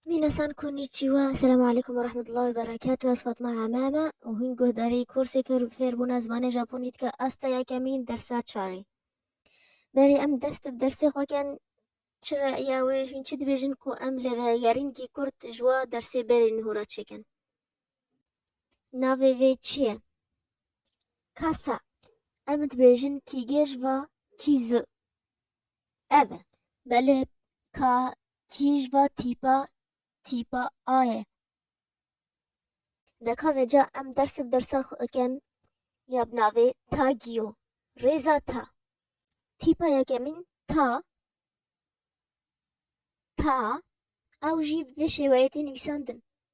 Minasan konnichiwa, selamu aleykum ve rahmetullahi ve berekatuh. Ez Fatma Hamama û hûn guhdarî kursê fêrbûna zimanê Japonî dike asta yekemîn dersa çarê. Berê em dest bi dersê xwe ken çi re'ya wê hûn çi dibêjin ku em li vegerîn kî kurd ji wa dersê berê niho re çêkin. Navê vê çi ye? Kasa. Em dibêjin kî gêj va kî zi. Ev e. Belê ka Kîj va tîpa tîpa a ye. Deka veca em ders bi dersa xwe dikin ya bi navê ta giyo, rêza ta. Tîpa yekemîn ta, ta, ew jî bi vê şêweyê tê nivîsandin.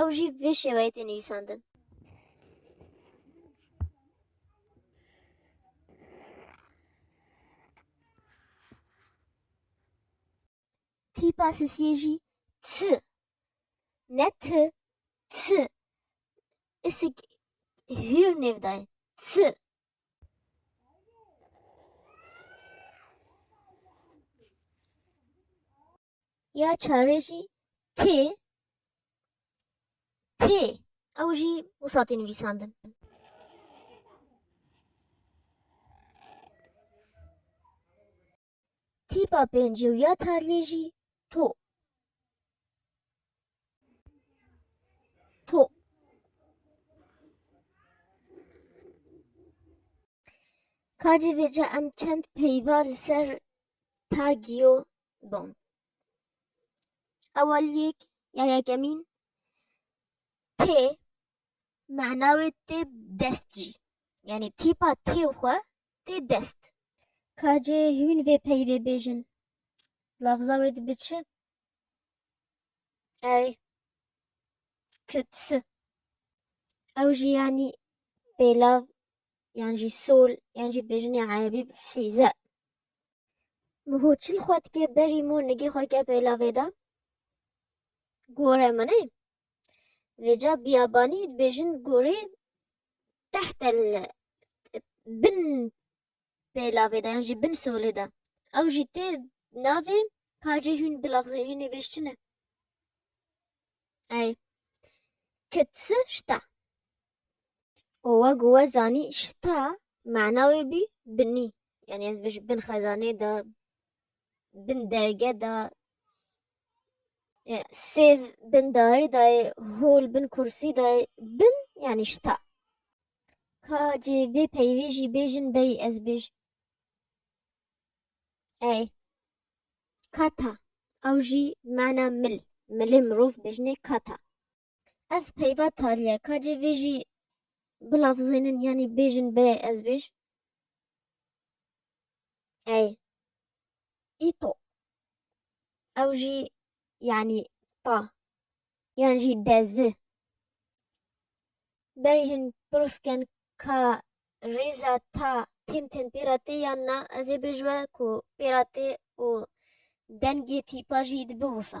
ew jî vê şêweyê tê nivîsandin. Tîpa sesiyê jî t ne t t isik hîr nêv dayê t Ya çarê jî tê tê ew jî wisa tê nivîsandin. Tîpa pêncî û ya tariyê jî to. To. Kacê vêca em çend peyva li ser tagiyo dom. Eweliyek ya yekemîn tê mena wê tê dest jî. Yanî tîpa tê xwe tê dest. Ka cê hûn vê peyvê bêjin lafza wê dibi çi? Erê kitsi. Ew jî yanî pêlav yan jî sol yan jî dibêjin ya erebî hîze. Ho çil xwe dike berî mor nigê xwe ke pêlavê de gore min e. Vêca biyabanî dibêjin gorê tehte bin pêlavê de yan jî bin solê de. Ew jî tê navê kacê hûn bilafzê hûnê bêj çi ne? Ey. Kitsi şta. û wek we zanî şita mana wê bî binî yanî ez ji bin xezanê de bin derge de sêv bin darî de ye hol bin kursî de ye bin yanî şita ka cê vê peyvê jî bêjin berî ez bêjim ey kata ew jî mana mil milê mirov bêjinê kata. Ev peyva taliye ka cê vê jî bilafzênin yanî bêjin bê ez bêj. Ey. Îto. Ew jî yanî ta. Yan jî dezi. Berî hin pirsken ka rêza ta tên tên pêra tê yan na ez ê bêjwe ku pêra tê û dengê tîpa jî dibi wisa.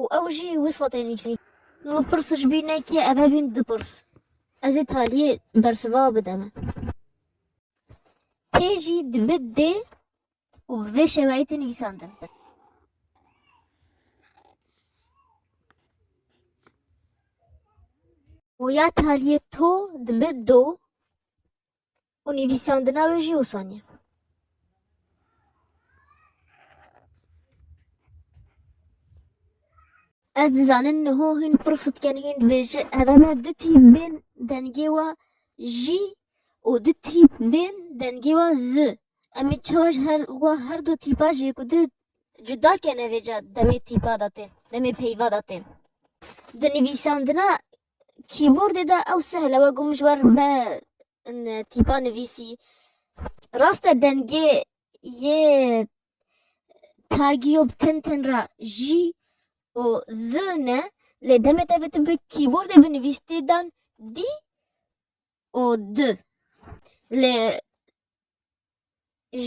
û ew jî wisa tên nivîsîn. Min pirs ji bîr nekir ev hebîn du pirs. Ez ê talîyê bersiva bidim. Tê jî dibe dê û bi vê şeweyê tê nivîsandin. Û ya talîyê to dibe do. û nivîsandina wê jî wisa niye. Ez dizanin niho hîn pir sitken hîn dibêje eveme du tî bên dengê wa jî û du tî bên dengê wa zi. Em ê çawa ji her wa her du tîpa jê ku di cuda kene vêca demê tîpa de tên, demê peyva de tên. Di nivîsandina Kîbordê de ew sehl e, wek ku min ji ber me tîpa nivîsî. Rast e dengê yê tagî û bi tin tin re J û Z ne lê demê te bi tu bi kîbordê binivîs tê dan D û D. Lê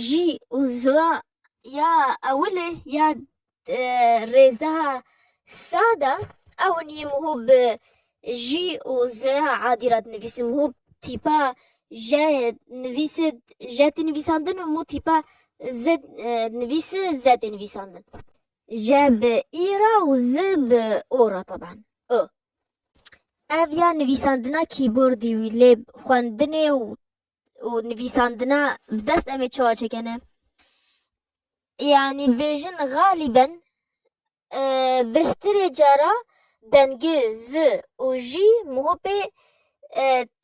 jî û zûa ya ewilê ya rêzeha sa de ew nî mû bi jî û zûa adî re dinivîsim mû tîpa je nivîsê je tê nivîsandin û mû tîpa ze nivîsê ze tê nivîsandin. Je bi î re û ze bi o re taban. O ev ya nivîsandina kîbordî wî lê xwendinê û û nivîsandina bi dest em ê çawa çêkene? Yanî bêjin xalîben bihtirê cara dengê z û j muhopê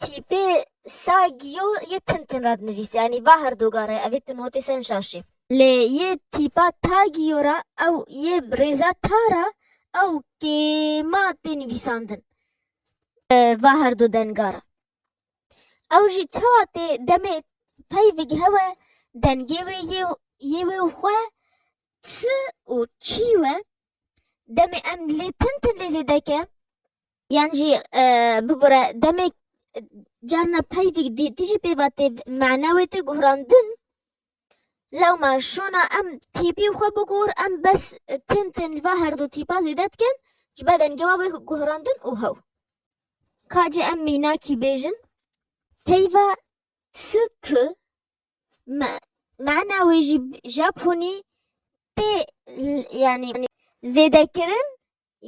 tîpê sa giyo yê tin tin ra dinivîse. Yanî ba her do gare ev ê tu notê sen şaşê. Lê yê tîpa ta giyo ra ew yê bi rêza ta ra ew kêma tê nivîsandin va her do denga ra. Ew jî çawa tê demê pey vigihewe dengê wê yê wê û xwe çi û çî we demê em lê tim tim lê zêde ke yan jî bibire demê carna pey vig dî tî jî pê va tê mena wê tê guhrandin lewma şona em tîpî xwe bigor em bes tim tim li va herdû tîpa zêde dikin ji ber dengê wan wê guhrandin û hew. Ka jî em mînakî bêjin peyva tsu ku me mana wê jî Japonî pê yanî zêdekirin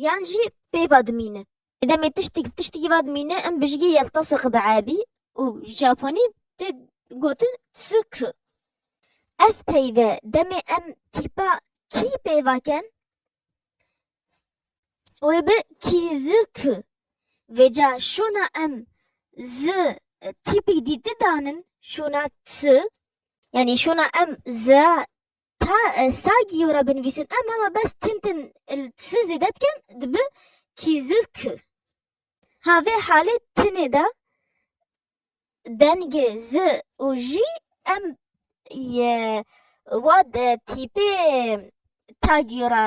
yan jî pê va dimîne. Demê tiştî tiştî va dimîne em bijîgê yeltasik bi ebî û Japonî tê gotin tsu ku. Ev peyve demê em tîpa kî pê vaken Wê bi kî zi ki vêca şûna em zi tîpik dîti danin şûna ti yani şûna em zi ta sagî yo re binivîsin em hema bes tin tin il ti zêde dikin dibi kî zi ki. Ha vê halê tinê de dengê z û jî em yê wa di tîpê tagîyo re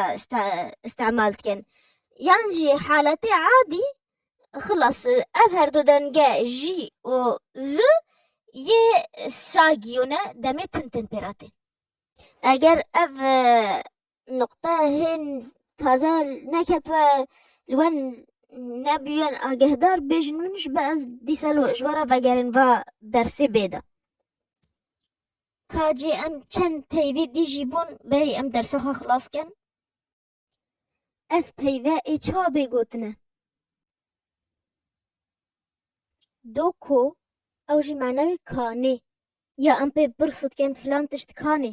îstemal dikin. Yan jî haletê adî xilas ev her du denge jî û z yê sagîyo ne demê tin tin pê re tê. Eger ev Nuqte hên taze neketwe li wen nebûyen agehdar bêjin min ji ber ez dîsa li ji we re vegerên va dersê bêde. Ka cê em çend peyvê dijî bûn berî em dersa xwe xilas kin. Ev peyve ê çawa bê gotine? Do ko ew jî manewê kanê ya em pê pirsidikin filan tişt kanê.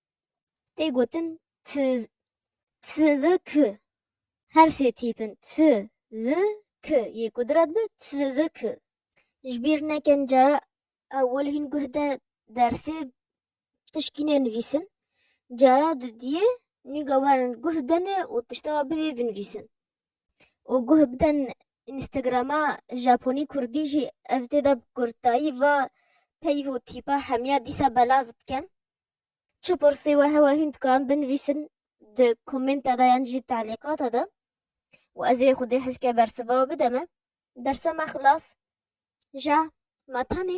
tê gotin t, t zi k. Her sê tîpin t zi k yê kudret bi t zi k. Ji bîr nekin cara ewil hîn guh de dersê tişkî nênivîsin, cara dudiyê nîga werin guh bdenê û tişta we bivê binivîsin. Û guh biden Instagrama Japonî Kurdî jî ev tê de bi kurtayî va peyv û tîpa hemiya dîsa belav dikin. Çi pirsî we hewa hûn dikarin binivîsin di komenta de yan jî talîqata de û ez ê xwedê hezke bersiva bide me. Dersa me xilas ja ma tenê.